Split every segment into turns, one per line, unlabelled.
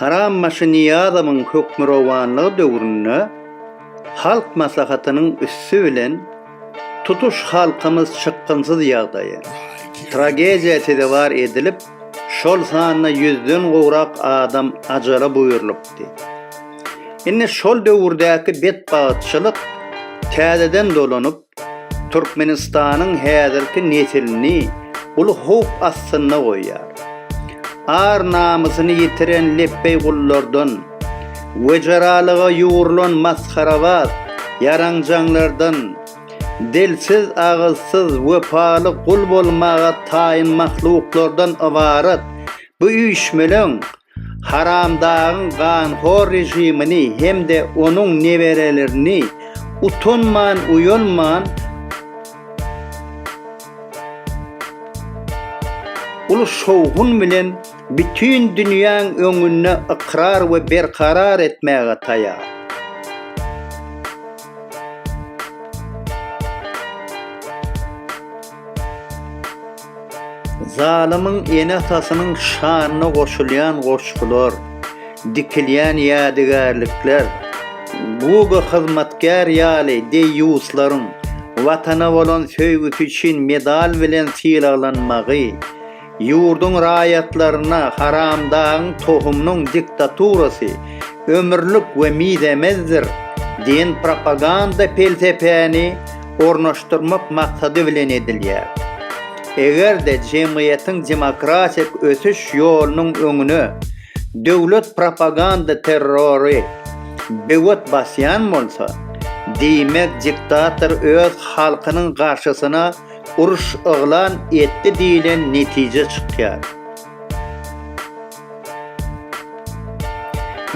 Harambaşy Nyýazowyň hökmürowanlygy döwründe Halk Maslahatynyň üsti bilen tutuş halkymyz çykgynsyz ýagdaýa, tragediýa sezewar edilip, şol sanda ýüzden gowrak adam ajala buýrulypdy. Indi şol döwürdäki betbagtçylyk täzeden dolanyp, Türkmenistanyň häzirki nesilini uly howp astynda goýýar. Ar-namysyny ýitiren lepbeý gullardan, wejeralyga ýugrulan masgarabaz ýaranjaňlardan, dilsiz, agyzsyz, wepaly gul bolmaga taýyn mahluklardan ybarat bu üýşmeleň Haramdagyň ganhor režimini hem-de onuň neberelerini utanman-uýalman uly şowhun bilen bütin dünýäň öňünde ykrar we berkarar etmäge taýar. Zalymyň ene-atasynyň şanyna goşulýan goşgular, dikilýän ýadygärlikler, Google hyzmatkär ýaly deýýuslaryň Watana bolan söýgüsi üçin medal bilen sylaglanmagy, ýurduň raýatlaryna Haramdagyň tohumynyň diktaturasy ömürlik we mizemezdir diýen propaganda pelsepäni ornaşdyrmak maksady bilen edilýär. Eger-de jemgyýetiň demokratik ösüş ýolunyň öňüne döwlet propaganda terrory böwet basýan bolsa, diýmek diktator öz halkynyň garşysyna uruş yglan etdi diýlen netije çykýar.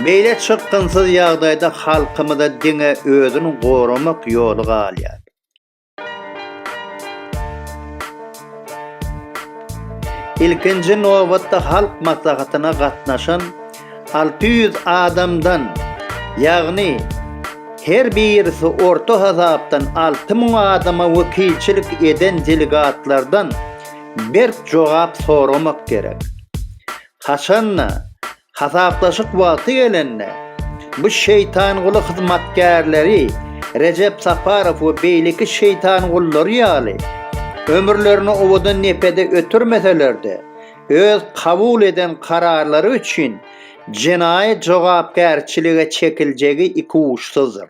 Beýle çykgynsyz ýagdaýda halkymyza diňe özüni goramak ýoly galýar. Ilkinji nobatda Halk Maslahatyna gatnaşan alty ýüz adamdan, ýagny her birisi orta hasapdan alty müň adama wekilçilik eden delegatlardan berk jogap soramak gerek. Haçanda, hasaplaşyk wagty gelende, bu şeýtanguly hyzmatkärleri Rejep Saparow we beýleki şeýtangullary ýaly, ömürlerini owadan nepede ötürmeseler-de, öz kabul eden kararlary üçin jenaýat jogapkärçilige çekiljegi ikuçsyzdyr.